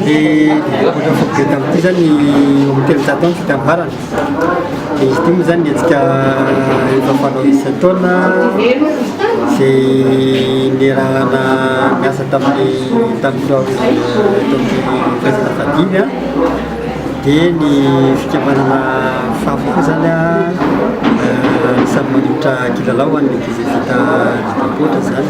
dia ohatra fotobe tamin'ity zany eo amin'ny telonjato any fitambarana dia izy ity moa zany ny hetsika efa fanao isan-taona izay nierahana miasa tamin'ny tamin'ny teo eto amin'ny firaisana vadily a dia ny fikamanana fafy koa zany a samy manolotra kilalao ho an'ny ankizy vita vita ankoatra zany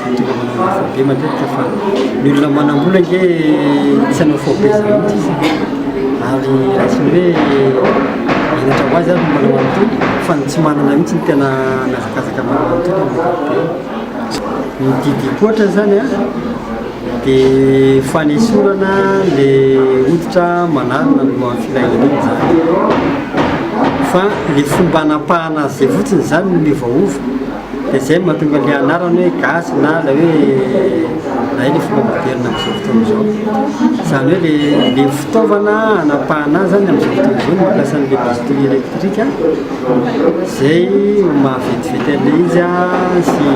Tongava fara be matetika fa ny olona manam-bola ange tsy hanao faux be zany mihitsy ary raisiny hoe henatra ho azy ary ny manao an'itony fa ny tsy manana mihitsy ny tena mihazakazaka manao an'itony amin'ny ankapobeny. Ny didy hikoatra zany a dia fanesorana le hoditra manarona ny lohan'ny filahian'iny zany fa le fomba anapahana azy zay fotsiny zany no miovaova. dia izay no mahatonga ilay anarana hoe gasy na ilay hoe hay ilay fomba moderina amin'izao fotoana izao. Izany hoe ilay ilay fitaovana hanapahana azy zany amin'izao fotoana izao no mampiasa an'ilay bistouri électrique izay mahavetivety an'ilay izy sy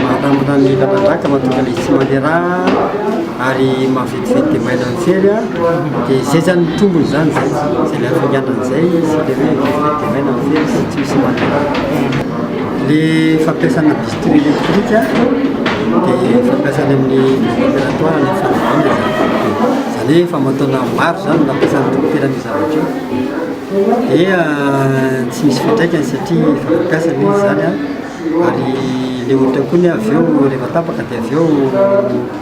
mahatanana ny lalan-drà ka mahatonga an'ilay izy tsy mandeha rà ary mahavetivety izay dia mailo an-tsery dia izay zany ny tombony zany zay zay le hafainganany zay izy le hoe vestety dia mailo an-tsery sy tsy misy manana le fampiasana bisturi électrique dia fampiasana amin'ny opératoire ny fanambany zany zany hoe famantoana maro zany nampiasana dokotera ny zavatra io dia tsy misy fiantraikany satria efa nampiasana izy zany ary le ohatra koa ny avy eo rehefa tapaka dia avy eo